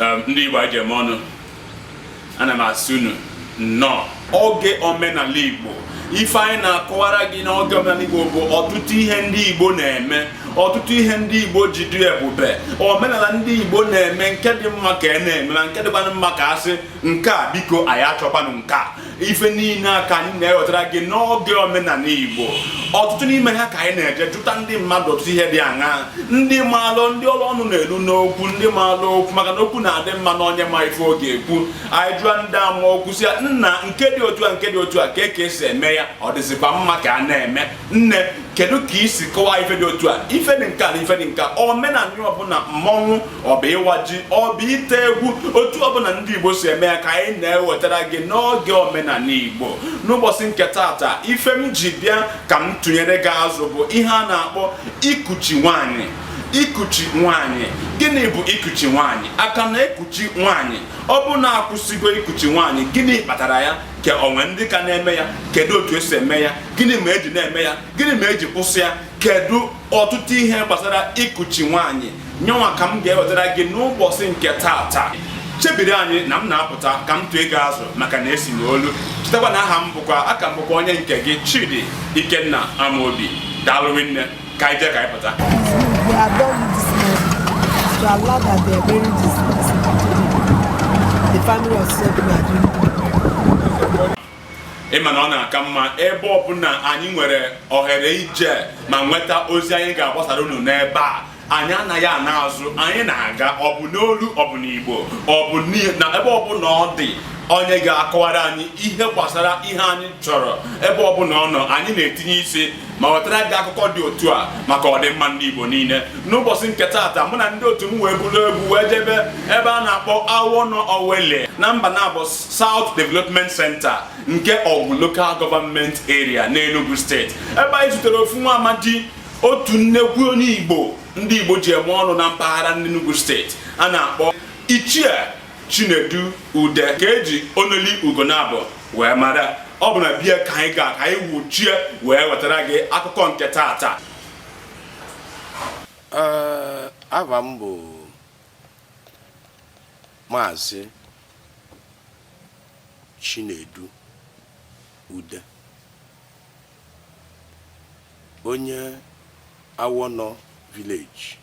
um, ndị Igbo eji eme ọnụ ana m asị unu nnọọ oge omenala Igbo ife anyị na-akọwara gị n'oge omenala Igbo bụ ọtụtụ ihe ndị Igbo na-eme ọtụtụ ihe ndị Igbo ji dị ebube omenala ndị Igbo na-eme nke dị mma ka a na-eme na nke dịkwanụ mma ka a sị nke a biko anyị achọkwanụ nke a ife niile a ka anyị na-ewetara gị n'oge omenala Igbo ọtụtụ n'ime ha ka anyị na-eje jụta ndị mmadụ ọtụtụ ihe dị aṅaa ndị maalụ ndị ọrụ ọnụ na-elu n'okwu ndị maalụ okwu maka na okwu na-adị mma na onye ma ife ọ ga-ekwu anyị jụọ ndị ama okwu sị ya nna nke dị otu a nke dị otu a kee ka esi eme ya ọ dịzikwa mma ka a na-eme nne kedu ka i si kọwaa ife dị otu a ife dị nke a na ife dị nke a omenala ọbụla mmọnwụ ọ bụ ịwa ji ọ bụ ite egwu otu ọbụla ndị igbo si eme ya ka anyị na-ewetara gị n'oge omenala igbo n'ụbọchị nke taata ife m ji bịa ka m tụnyere gị azụ bụ ihe a na-akpọ ikuchi nwanyị ikuchi nwanyị gịnị bụ ikuchi nwanyị a ka na-ekuchi nwanyị ọ bụ na a kwụsịgo ikuchi nwanyị gịnị kpatara ya ka o nwe ndị ka na-eme ya kedu otu esi eme ya gịnị me eji na-eme ya gịnị me eji kwụsị ya kedu ọtụtụ ihe gbasara ikuchi nwaanyị nyenwa ka m ga-ewetara gị n'ụbọchị nke taata chebiri anyị na m na-apụta ka m tụọ ego azụ maka na esi n'olu chetakwa na aha m bụkwa a ka m bụkwa onye nke gị Chidi Ikenna Amobi daalụ rinne ka anyị jee ka anyị pụta The family of Segun Adunni. ịma na ọ na-aka mma ebe ọbụla anyị nwere ohere ije ma nweta ozi anyị ga-agbasara unu n'ebe a anyị anaghị ana azụ anyị na-aga ọ bụ n'olu ọ bụ n'igbo ọ bụ na ebe ọbụla ọ dị onye ga-akọwara anyị ihe gbasara ihe anyị chọrọ ebe ọbụla ọ nọ anyị na-etinye isi ma wetara gị akụkọ dị otu a maka ọdịmma ndị Igbo niile n'ụbọchị nke taata mụ na ndị otu m wee buru igwe wee jebe ebe a na-akpọ Awọnọ Owelli na Mbanabọ South Development Center nke Awgu Local Government Area n'Enugu steeti ebe anyị zutere ofu nwa amadi otu nnekwu onye Igbo ndị Igbo ji eme ọnụ na mpaghara n'Enugu steeti a na-akpọ Ichie Chinedu Ude ka eji Onoli Ugonabọ wee mara ọ bụ na be ya ka anyị ga ka anyị wuchie wee wetara gị akụkọ nke taata aha m bụ Maazị Chinedu Ude onye Awọnọ Village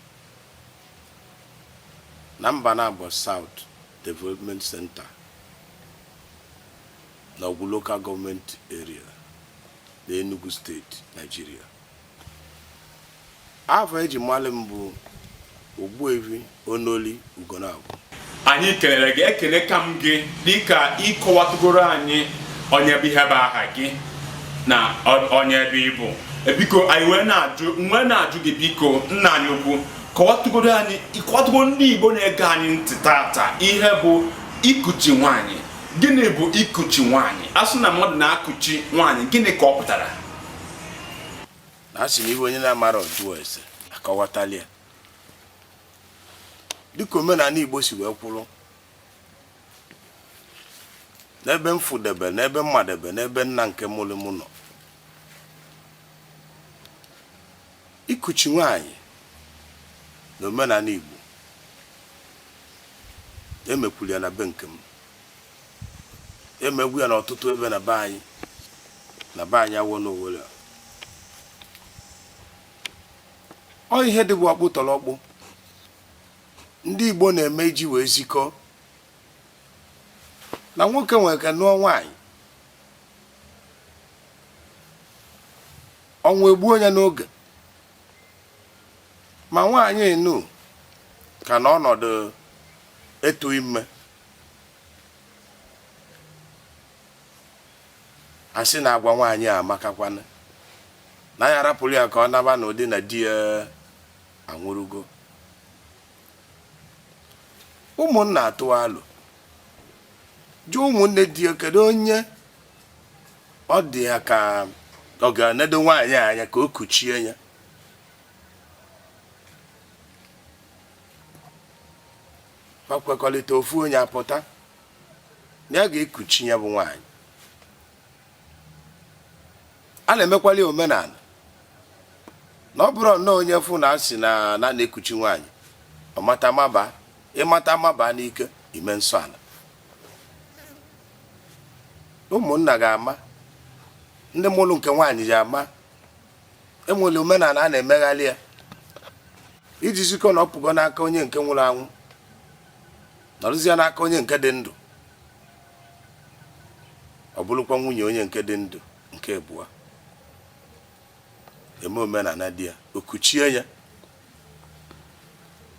na Mbanabọ South Development Center na Awgu Local Government Area na Enugu Steeti, Nigeria. afa e ji malị m bụ Ogbuefi Onoli Ugonagwu anyị kelere gị ekelekwa m gị dịka ị kọwatụgoro anyị onye bụ ihe bụ aha gị na onye ebe ị bụ e, biko anyị wee na-ajụ gị biko nna anyị ukwu kọwatụgoro anyị ị kọwatụgoro ndị Igbo na-ege anyị ntị taata ihe bụ ikuchi nwaanyị gịnị bụ ikuchi nwaanyị a sị na mmadụ na-akuchi nwaanyị gịnị ka ọ pụtara na a sị na ihe onye na-amarọ ọ jụọ ese a kọwatali ya dịka omenala Igbo si wee kwụrụ n'ebe m fụdebe n'ebe m madebe n'ebe nna nke mụrụ m nọ ikuchi nwanyị n'omenala Igbo e mekwuru ya na be nke m emegwu ya n'ọtụtụ ebe na be anyị na be anyị Awọ n'Owere ọ ihe dịbu ọkpụtọrọkpụ ndị Igbo na-eme iji wee zikọ na nwoke nwere ike nụọ nwaanyị ọnwụ egbuo ya n'oge ma nwaanyị nu ka nọ n'ọnọdụ ịtụ ime a sị na agwa nwaanyị a amakakwana na ya arapụla ya ka ọ naba n'ụdị na di ya anwụrụgo ụmụnna atụọ alo jụọ ụmụnne di ya kedu onye ọ dị ya ka ọ ga-enedo nwaanyị anya ka o kuchie ya ma kwekọrịta ofu onye apụta na ya ga-ekuchi ya bụ nwaanyị a na-emekwali omenala na ọ bụrọ nnọọ onye fụ na a sị na a na-ekuchi nwaanyị ọ mata maba ị mata maba n'ike i mee nsọ ala ụmụnna ga-ama ndị mụrụ nke nwaanyị ga-ama e nwere omenala a na-emegharị ya iji zikọ na ọ pụgo n'aka onye nke nwụrụ anwụ nọrụzie n'aka onye nke dị ndụ ọ bụrụkwa nwunye onye nke dị ndụ nke abụọ e mee omenala dị ya o kuchie ya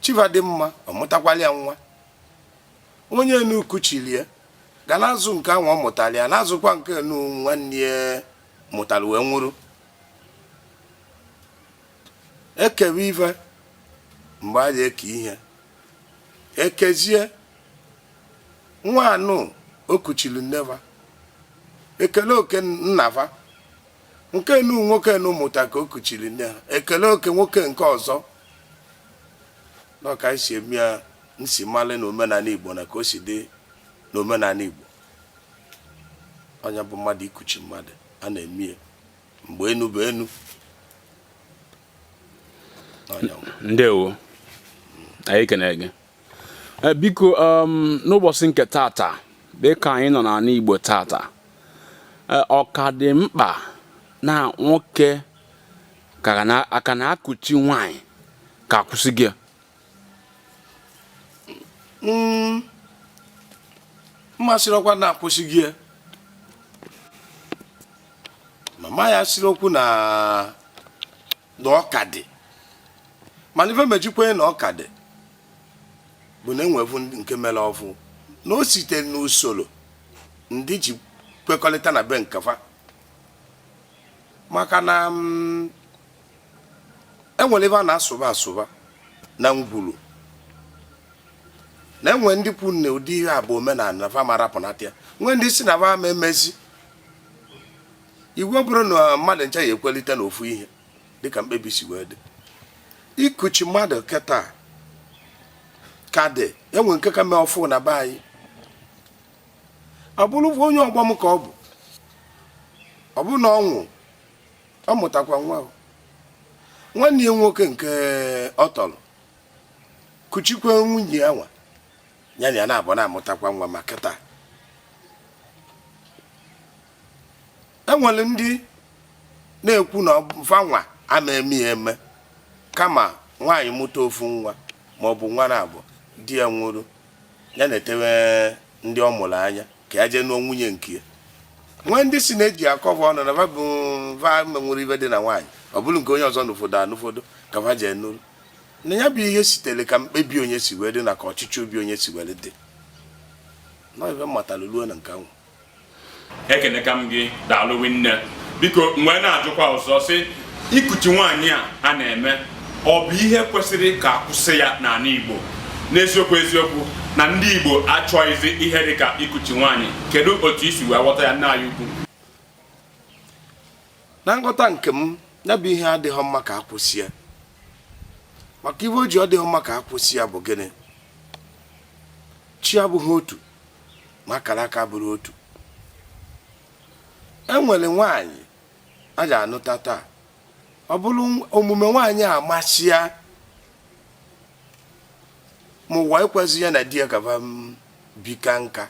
chi va dị mma ọ mụtakwala ya nwa onye enu kuchili ya ga na-azụ nke ahụ ọ mụtara ya na-azụkwa nke enu nwanne ya mụtara wee nwụrụ e kewe ife mgbe a ga-eke ihe ekezie nwa anụ o kuchiri nne va ekele oke nna va nke nụ nwoke nụ mụta ka o kuchiri nne ha ekele oke nwoke nke ọzọ na ọ ka e si eme ya m si male na omenala igbo na ka o si dị na omenala igbo ọ nya bụ mmadụ ikuchi mmadụ a na-eme ya mgbe enu bụ enu ndewo anyị kene gị eh, biko um, n'ụbọchị nke tata dịka anyị nọ n'ala Igbo tata eh, ọ ka dị mkpa na nwoke aka na-ekuchi nwanyị ka a kwụsịgo ya Mm. m ma sịrị okwu na a kwụsịgo ya ma m ya sịrị okwu na na ọ ka dị mana ife m ji kwe na ọ ka dị bụ na e nwevu nke mere ọfụ na o site n'usoro ndị si kwekọrịta na be nke fa maka na mm, e nwere ebe a na-asụba asụba na ngwuru na e nwe ndị kwu na ụdị ihe a bụ omenala na fa ama arapụnata ya nwee ndị sị na fa ama emezi iwu bụrọ na mmadụ ncha ya-ekwelite na ofu ihe dịka mkpebi si wee dị ikuchi mmadụ kịta ka dị e nwe nke ka mee ọfụ na be anyị ọ bụrụ onye ọgbọ m ka ọ bụ ọ bụrụ na ọ nwụ ọ mụtakwa nwa nwanne ya nwoke nke ọ tọrọ kuchikwa nwunye ya nwa ya na ya nabọ na-amụtakwa nwa ma kịta e nwere ndị na-ekwu na fa nwa ama eme ya eme kama nwaanyị mụta ofu nwa ma ọ bụ nwa nabọ di ya nwụrụ ya netewe ndị ọ mụrụ anya ka ya jee nụọ nwunye nke ya nwee ndị sị na e ji akọ va ọnụ na va ama ewere ife dị na nwaanyị ọ bụrụ nke onye ọzọ nụfọdụ anụfọdụ ka va jee nụrụ na ya bụ ihe sitere ka mkpebi onye si wee dị na ka ọchịchọ obi onye si were dị na ọ ife m matara ruo na nke ahụ ekeneka m gị daalụ rinne biko m wee na-ajụkwa ọzọ sị ikuchi nwaanyị a a na-eme ọ bụ ihe kwesịrị ka a kwụsị ya n'ala Igbo n'eziokwu eziokwu na ndị Igbo achọghịzi ihe dị ka ikuchi nwaanyị kedu otu i si wee ghọta ya nna anyị ukwu na nghọta nke m ya bụ ihe adịghị mma ka a kwụsị ya maka ihe o ji ọ dịghị mma ka a kwụsị ya bụ gịnị chi abụghị otu ma akaraka bụrụ otu e nwere nwaanyị a ga-anụta taa ọ bụrụ omume nwaanyị a masịa ma ụwa ekwezighị ya na di ya ka fa bika nka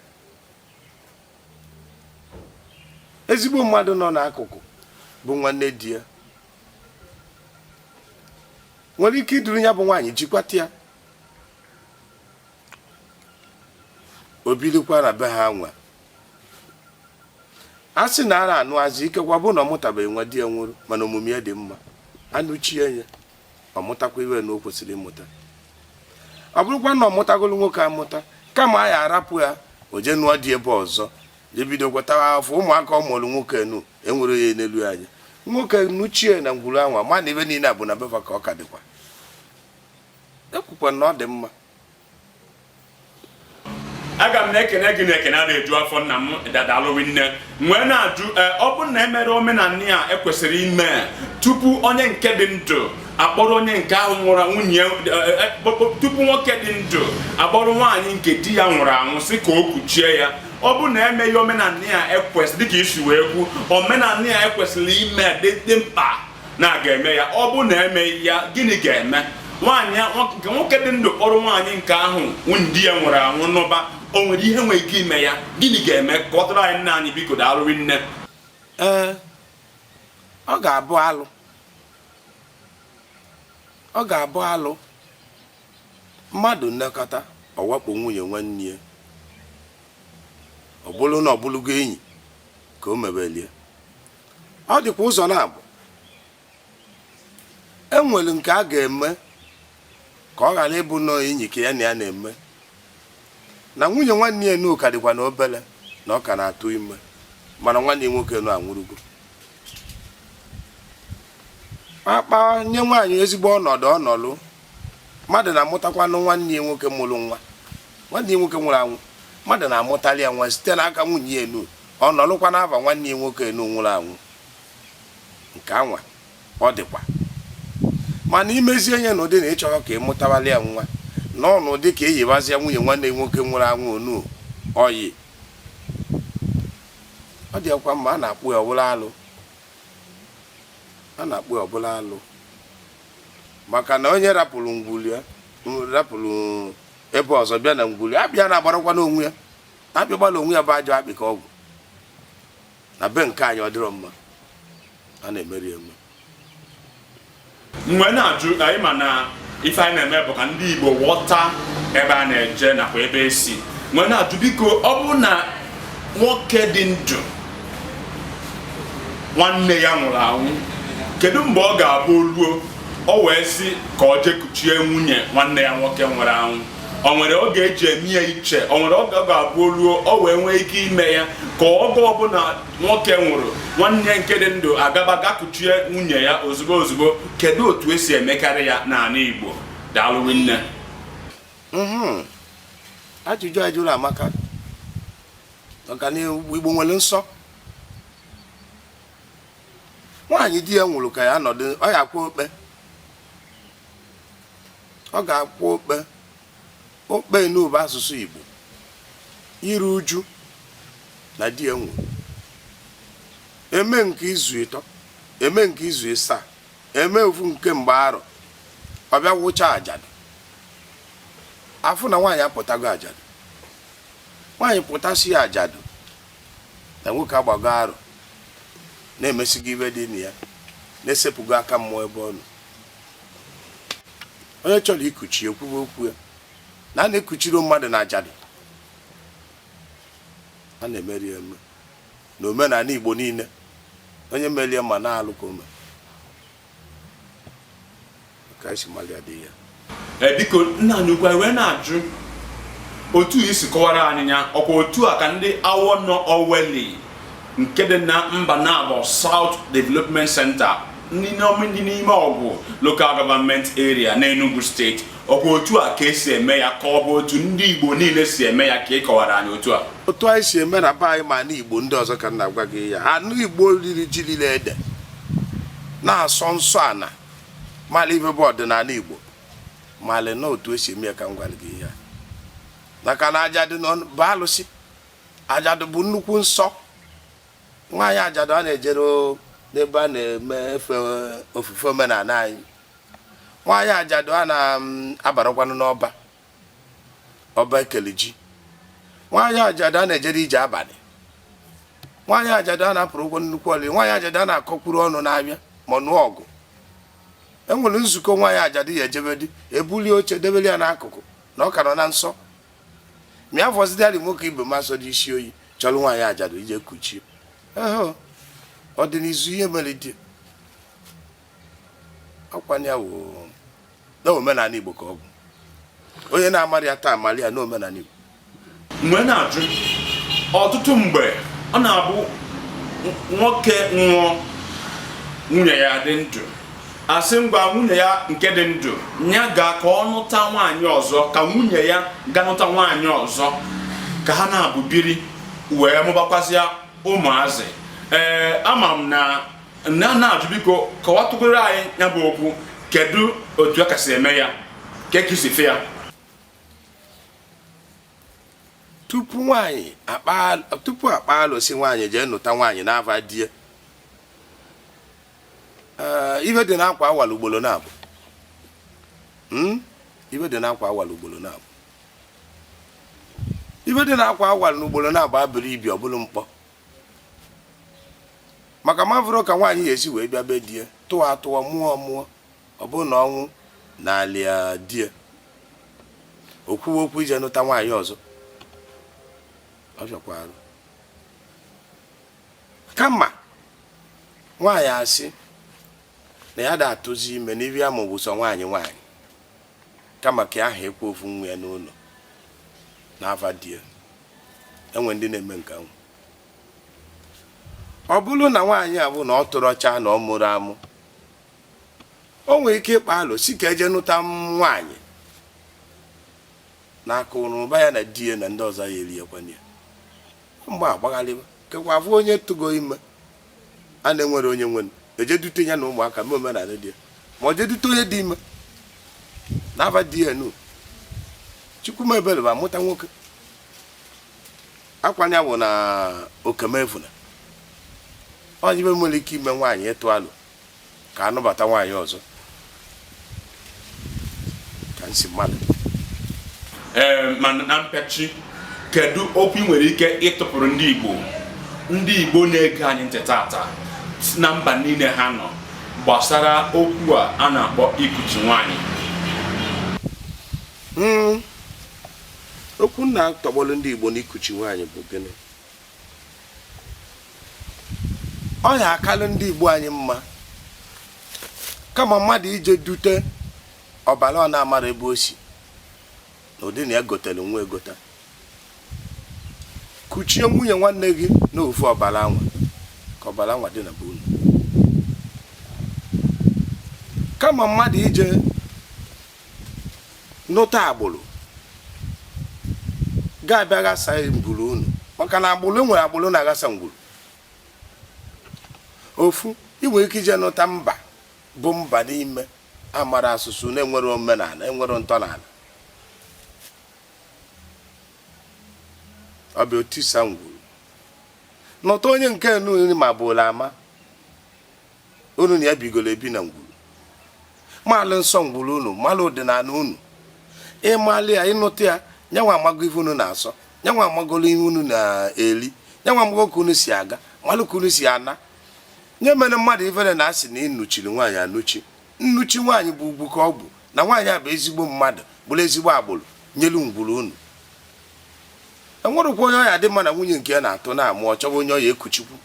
ezigbo mmadụ nọ n'akụkụ bụ nwanne di ya nwere ike iduru ya bụ nwaanyị jikwata ya o birikwa na be ha nwa a sị na ara anụ azụ ikekwa bụ na ọ mụtabeghị nwa di ya nwụrụ mana omume ya dị mma a nụchie ya ọ mụtakwa ihe nu o kwesịrị ịmụta ọ bụrụkwa na ọ mụtagolu nwoke amụta kama a ya-arapụ ya o jee nụọ di ebe ọzọ je bido gwatawa afọ ụmụaka ọ mụrụ nwoke nu e were ya n'elu anya nwoke nụchie na ngwuru a nwa ma na ihe niile a bụ na be fa ka ọ ka dịkwa e kwukwa na ọ dị mma aga m na-ekene gị na ekene a na-eju afọ nna m da daalụ nne m wee na-ajụ eh, ọ bụrụ na e mere omenala a e kwesịrị ime tupu onye nke dị ndụ akpọrọ onye nke ahụ nwụrụ anwụ nye eh, eh, tupu nwoke dị ndụ akpọrọ nwaanyị nke di ya nwụrụ anwụ sị ka o kuchie ya ọ bụ na emeghị omenala a ekwesị dịka i si wee kwu omenala a e kwesịrị ime dị mkpa na a ga-eme ya ọ bụ na emeghị ya gịnị ga-eme nwaanyị nke nwoke dị ndụ kpọrọ nwaanyị nke ahụ di ya nwụrụ anwụ nụba o nwere ihe nwere ike ime ya gịnị ga-eme kọwatụrụ anyị nna anyị biko daalụ nne ee ọ ga-abụ alụ ọ ga-abụ alụ mmadụ nekọta ọ wakpo nwunye nwanne ya ọ bụrụ na ọ bụrụgo enyi ka o mebelie ọ dịkwa ụzọ naabọ e nwere nke a ga-eme ka ọ ghara ịbụ na ọ enyi ka ya na ya na-eme na nwunye nwanne ya nu ka dịkwa na obele na ọ ka na-atụ ime mana nwanne ya nwoke nu anwụrụgo a kpanye nwaanyị ezigbo ọnọdụ ọ nọlụ mmadụ na-amụtakwanụ nwanne ya nwoke mụrụ nwa nwanne ya nwoke nwụrụ anwụ mmadụ na-amụtali ya nwa site n'aka nwunye ya nu Ọ nọlụkwa n'afa nwanne ya nwoke enu nwụrụ anwụ. Nke anwa ọ dịkwa. Mana i mezie ya n'ụdị na ị chọrọ ka ị mụtawara ya nwa, nọọ n'ụdị ka ị yịbazịa nwunye nwanne gị nwoke nwụrụ anwụ onu ọyị. Ọ dịghịkwa mma. A na-akpụ ya ọ bụrụ alụ. A na-akpụ ya ọ bụrụ alụ. Maka na onye rapụrụ ngwuru ya, rapụrụ ebe ọzọ bịa na ngwuru ya, abịa na-agbarakwanụ onwe ya. Akpị gbara onwe ya bụ ajọ akpị ka ọgwụ na be nke anyị ọ dịrọ mma a na-emeri eme m wee na-ajụ ị ma na ife anyị na-eme bụ ka ndị Igbo ghọta ebe a na-eje nakwa ebe esi m wee na-ajụ biko ọ bụrụ na nwoke dị ndụ nwanne ya nwụrụ anwụ kedu mgbe ọ ga-abụ oluo o wee sị ka ọ jee kuchie nwunye nwanne ya nwoke nwụrụ anwụ o nwere oge eji eme ya iche o nwere oge ọ ga-abụ oluo o wee nwee ike ime ya ka oge ọbụla nwoke nwụrụ nwanne nke dị ndụ agaba gakuchie nwunye ya ozugbo ozugbo kedu otu esi emekarị ya n'anị Igbo daalụ rinne mhm. ajụjụ ị jụrụ amaka maka na Igbo nwere nsọ nwaanyị di ya nwụrụ ka ya nọdụ ọ ya-akwụ okpe Ọ ga-akwụ okpe okpe nụ bụ asụsụ Igbo iru uju na di ya nwụrụ. Eme nke izu ịtọ, eme nke izu ịsaa, eme ofu nke mgbe arọ, ọ bịa wụcha ajadụ. A fụ na nwaanyị apụtago ajadụ. Nwaanyị pụtasịa ajadụ na nwoke agbago arọ na emesigo ife dị na ya na esepụgo aka mmụọ ebe ọ nọ. onye chọrọ ikuchi ekwuwe okwu ya na a na-ekuchiri mmadụ na ajadụ a na-emeri eme na omenala Igbo niile onye merie ma na alụ ka o me ka esi malia dị ya e, biko nna anyị ukwu m wee na-ajụ otu i si kọwara anyị ya ọkwa otu a ka ndị Awọnọ Oweli nke dị na Mbanabo South Development Center dị n'ime Ọgwụ Local Government Area n'Enugu steeti ọ bụ otu a ka esi eme ya ka ọ bụ otu ndị Igbo niile si eme ya ka ị kọwara anyị otu a otu anyị si eme na be anyị ma na Igbo ndị ọzọ ka m na-agwa gị ya ana Igbo riri ji lile ede na-asọ nsọ ana mara ife bụ ọdịnala Igbo mara na otu esi eme ya ka m gwara gị ya maka na ajadụ nụ bụ alụsị Ajadu bụ nnukwu nsọ nwaanyị ajadu a na-ejerọ n'ebe a na-eme efe ofufe omenanị anyị nwaanyị ajadu a na-abarọkwanụ mm, n'ọba ọba e kele ji nwaanyị ajadu a na-ejerọ ije abanị nwaanyị ajadu a na-apụrọ ụkwụ nnukwu olili nwaanyị ajadu a na-akọkwuru ọnụ na-abịa ma nụọ ọgụ e nwere nzukọ nwaanyị ajadu ya ejebedi e bulie oche debeli ya n'akụkụ na ọ ka nọ na nsọ ma ya fọzidịarị nwoke ibe m asọ dị isi oyi chọlụ nwaanyị ajadu ije kuchie ọ dị n'izu ihe mere dị akwanye na omenanị Igbo ka ọ bụ onye na-amarọ ya taa mara ya n'omenanị Igbo ka m wee na-ajụ ọtụtụ mgbe ọ na-abụ nwoke nwụọ nwunye ya dị ndụ a sị ngwa nwunye ya nke dị ndụ ya ga ka ọ nụta nwaanyị ọzọ ka nwunye ya ga nụta nwaanyị ọzọ ka ha naabọ biri wee mụbakwazịa ụmụazị ee ama m na na na-ajụ biko kọwatụgoro anyị ya bụ okwu kedu otu a ka si eme ya ka ekisife ya tupu nwaanyị tupu a kpaa alo sị nwaanyị jee nụta nwaanyị n'ava di e ee ive dị n'akwa awala ugbolo naabọ Hmm? ive dị n'akwa awala ugbolo naabọ ive dị n'akwa awala na ugbolo naabọ abụrọ ibi ọ bụrụ mkpọ maka m avụrọ ka nwaanyị ya esi wee bịa be di e tụwa atụwa mụọ mụọ ọ bụrụ na ọnwụ nalịa di e o kwuwe okwu ije nụta nwaanyị ọzọ ọ fịakwa arụ kama nwaanyị asị na ya da atụzi ime n'ive ya mụ bụ sọ nwaanyị nwaanyị kama ka a hakwa ovu nwa ya n'ụnọ na ava di ye e nwere ndị na-eme nke ahụ ọ bụrụ na nwaanyị a bụ na ọ tụrọ ọcha na ọ mụrọ amụ o nwere ike ịkpa alo sị ka e je nụta nwaanyị na akụrụba ya na di ya na ndị ọzọ ya eriekwana ya ma a gbaghalịba kekwa a vụ onye tụgo ime a na-enwerọ onye nwenụ e je dute ya na ụmụaka mee omenanị dị ya ma ọ jee dute onye dị ime n'ava di ye nụ Chukwu mee ebele bụ a mụta nwoke akwanye bụ na okemefuna onye ibe nwere ike ime nwaanyị ịtụ alo ka a nụbata nwaanyị ọzọ ka nsi mmadụ ee eh, ma na mpịachi kedu okwu ị nwere ike ịtụpụrụ ndị Igbo ndị Igbo na-ege anyị ntị tata na mba niile ha nọ gbasara okwu a a na-akpọ ikuchi nwaanyị hmm. okwu m na-atọgbọrọ ndị Igbo na ikuchi nwaanyị bụ gịnị ọ ya-akalụ ndị Igbo anyị mma kama mmadụ ije dute ọbara a na-amarọ ebe o si na ụdị na ya gotere nwa egota kuchie nwunye nwanne gị na ofu ọbara anwa ka ọbara anwa dị na be unu kama mmadụ ije nụta agbụrụ ga-abịa ghasa ngwuru unu maka na agbụrụ e nwere agbụrụ na-aghasa ngwuru ofu ị nwere ike ije nụta mba bụ mba n'ime amarọ asụsụ na-enwerọ omenala enwerọ ntọala ọ bịa o tisa ngwuru nụta onye nke unu maburu ama unu na ya bigoro ebi na ngwuru maalụ nsọ ngwuru unu maalụ ọdịnala unu ị malị ya ị nụta ya nyanwa amago ife unu na-asọ nyanwa amagolo ihe unu na-eri nyanwa amago ka unu si aga malụ ka unu si ana nya emene mmadụ ifere na a sị na ị nụchiri nwaanyị anụchi nnụchi nwaanyị bụ ugwu ka ọ bụ na nwaanyị a bụ ezigbo mmadụ bụrụ ezigbo agbụrụ nyelu ngwuru unu e nwerekwa onye ọ ya-adị mma na nwunye nke ya na-atụ na-amụ ọ chọba onye ọ ya-ekuchikwu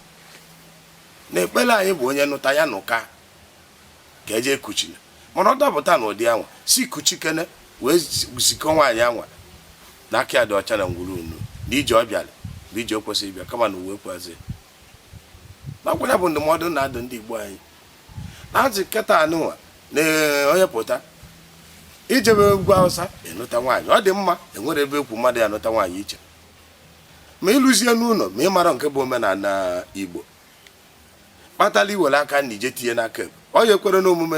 na ekpere anyị bụ onye nụta ya nụka ka eje kuchina mana ọ dapụta na ụdị anwa si kuchikene wee zikọ nwaanyị anwa na aka ya dị ọcha na ngwuru unu na ije ọ bịara bụ ije o kwesịrị ịbịa kama na ụwa ekwezi na ọ kwa nya bụ ndụmọdụ m na-adụ ndị Igbo anyị n'azị kịta anụnwa na onye pụta ijebe ugwu Awụsa ịnụta nwaanyị ọ dị mma enwerọ ebe e kwu mmadụ ya-anụta nwaanyị iche ma i luzie n'ụlọ ma ị marọ nke bụ omenala Igbo kpatara i were aka nri je tinye n'aka ekpe onye ekwere n'omume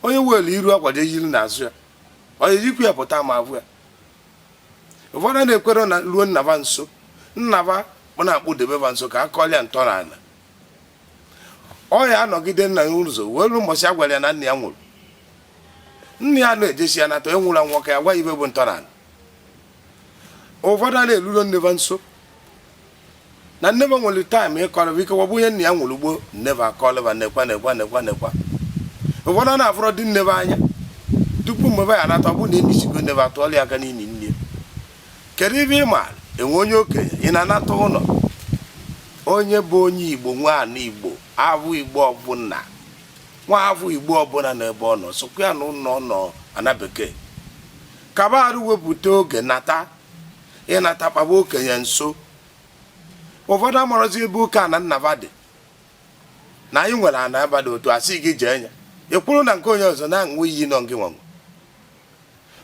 onye were iru akwa yiri n'azụ ya onye yikwu ya pụta ma a fụ ya ụfọdụ na-ekwere na ruo nna ba nso nna ba ọ na-akpụdebe ba nso ka a kọlịa ntọala ọ ya-anọgide nna ya ụzọ wee ruo mbọchị a gwara ya na nna ya nwụrụ nna ya na-ejesi ya nata onye nwụrụ anwụ ka ya gwa ife bụ ntọala ụfọdụ a na-eruro nne va nso na nne va nwere taịm ịkọrọ va ive ọ bụ onye nna ya nwụrụ gboo nne va akọlị va nekwa ụfọdụ a na-afụrọdị nne va anya tupu mgbe ya anata ọ bụ na enisigo nne va atụọla ya aka n'imi nne kedu ive ị maara enwe onye okenye ị na-anata ụlọ onye bụ onye igbo nwa afọ igbo afọ igbo ọbụla nwa afọ igbo ọbụla n'ebe ọ nọ sokwa ya na ụlọ nọ ana bekee kwa arọ wepụta oge nata ịnata kpaba okenye nso ụfọdụ amarọzi ebe oke ana nna va dị na anyị nwere ana ebe dị otu a asị gị jee nya ị kwụrụ na nke onye ọzọ na-aṅụ iyi na ọ gị nwe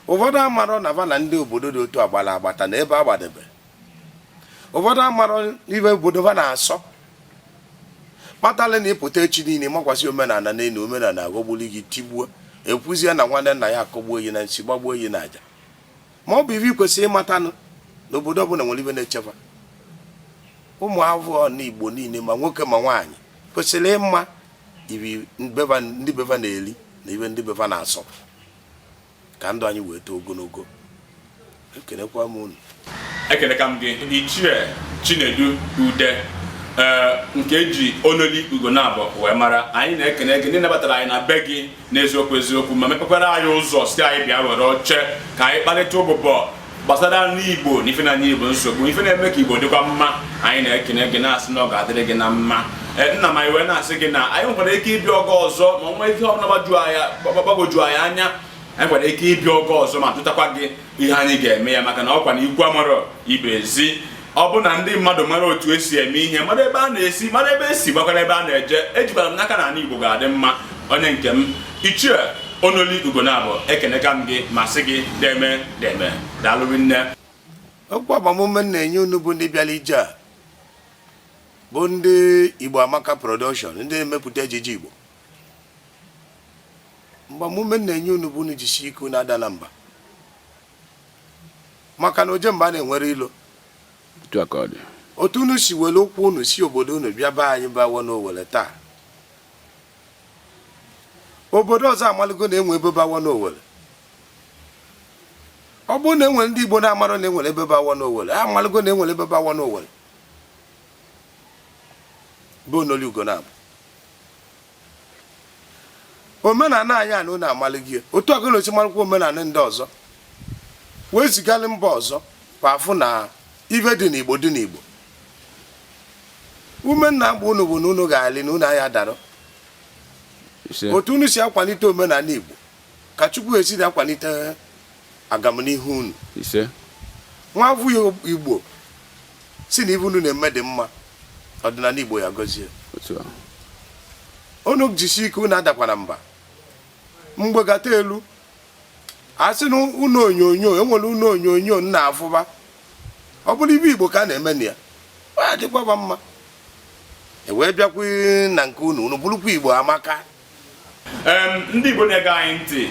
ụfọdụ amarọ na va na ndị obodo dị otu a gbara agbata na ebe agbadebe ụfọdụ amarọ ive obodo va na-asọ kpatala na ịpụta echi niile makwasị omenala n'elu omenala aghọgburu gị tigbuo ekwuzie na nwanne nna ya akọgbuo ya na nsi gbagbuo ya na aja ma ọ bụ ive ikwesịrị ịmatanụ na obodo ọbụla nwere ive na-echekwa ụmụ avọ igbo niile ma nwoke ma nwaanyị kwesịrị ịma ive ndị be va na-eri na ive ndị be va na-asọ ka ndụ anyị wee too ogologo ekenekwa m unu ekeneka m gị ichie chinedu ude ee nke eji onoli ugonabọ wee mara anyị na-ekene gị na ị nabatara anyị na be gị n'eziokwu eziokwu ma mepekwara anyị ụzọ sị anyị bịa were oche ka anyị kparịta ụbụbọ gbasara ndị igbo na ife na-enye igbo nsogbu ife na-eme ka igbo dịkwa mma anyị na-ekene gị na-asị na ọ ga-adịrị gị na mma e, nna m anyị wee na-asị gị na anyị nwekwara ike ịbịa oge ọzọ ma nwee ihe ọbụla gbagwoju anyị anya anyị nwere ike ịbịa oge ọzọ ma jụtakwa gị ihe anyị ga-eme ya maka na ọkwa na ikwu amarọ ibe ezi ọ bụ na ndị mmadụ mara otu esi eme ihe mara ebe a na-esi mara ebe esi makwara ebe a na-eje ejikwara m n'aka na ala Igbo ga-adị mma onye nke m ichie onoli ugonabọ ekeneka m gị ma sị gị deme deme daalụ rinne okwu agbamume m na-enye unu bụ ndị bịara ije a bụ ndị Igbo Amaka Production ndị na-emepụta ejije Igbo agbamume m na-enye unu bụ unu jisi ike unu adana mba maka na oje mba enwerọ ilo otu unu si were ụkwụ unu si obodo unu bịa be anyị bawo n'owere taa obodo ọzọ amaligo na enwere ebe bawo n'owere ọ bụrụ na enwere ndị igbo na-amarọ na enwere ebe bawo n'owere ha amaligo na enwere ebe bawo n'owere bụ onoli ugonabọ omenala anyị a na unu amalị ya otu a ka unu si marụkwa omenala ndị ọzọ wee zigalị mba ọzọ ka va fụ na ive dị n'igbo dị n'igbo ume m na-agba unu bụ na unu ga-alị na unu aya adarọ otu unu si akwalite omenala igbo Ka Chukwu esi na-akwalite agamnihu unu. Ise. Nwa afọ Igbo sị na ife unu na-eme dị mma ọdịnala Igbo ya gọzie. Unu jisi ike unu adakwana mba mgbe gata elu a sị na ụnọ onyonyo e nwere ụnọ onyonyo ị na-afụba ọ bụrụ ife Igbo ka a na-eme na ya ọ ya-adịkwaba mma ewee bịakwa na nke unu unu bụrụkwa Igbo amaka ndị Igbo na-ege anyị ntị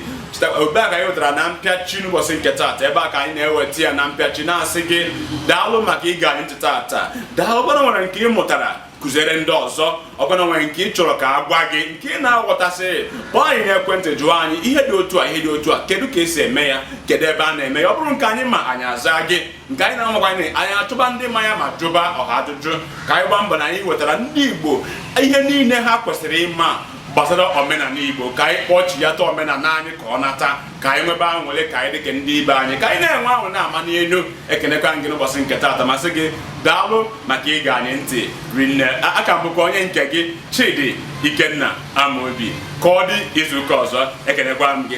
ebe a ka anyị wetara na mpịachi n'ụbọchị nke taata ebe a ka anyị na-eweta ya na mpịachi na-asị gị daalụ maka ige anyị ntị taata daalụ ọ bụrụ na e nwere nke ị mụtara kuziere ndị ọzọ ọ bụrụ na e nwere nke ị chọrọ ka a gwa gị nke ị na-aghọtaghị kpọọ anyị n'ekwentị jụọ anyị ihe dị otu a ihe dị otu a kedu ka esi eme ya kedu ebe a na-eme ya ọ bụrụ nke anyị ma anyị aza gị nke anyị na-amakwaghị anyị achọba ndị ma ya ma jụba ọha ajụjụ ka anyị gbaa mbọ na anyị wetara ndị Igbo ihe niile ha kwesịrị ịma gbasara omenala Igbo ka anyị kpọchighata omenala anyị ka ọ nata ka anyị nwebe anwụlị ka anyị dịka ndị ibe anyị ka anyị na-enwe ahụ na-ama n'elu ekenekwa m gị n'ụbọchị nke taata ma sị gị daalụ maka ige anyị ntị rinne aka m bụkwa onye nke gị Chidi Ikenna Amobi ka ọ dị izuụka ọzọ ekenekwa m gị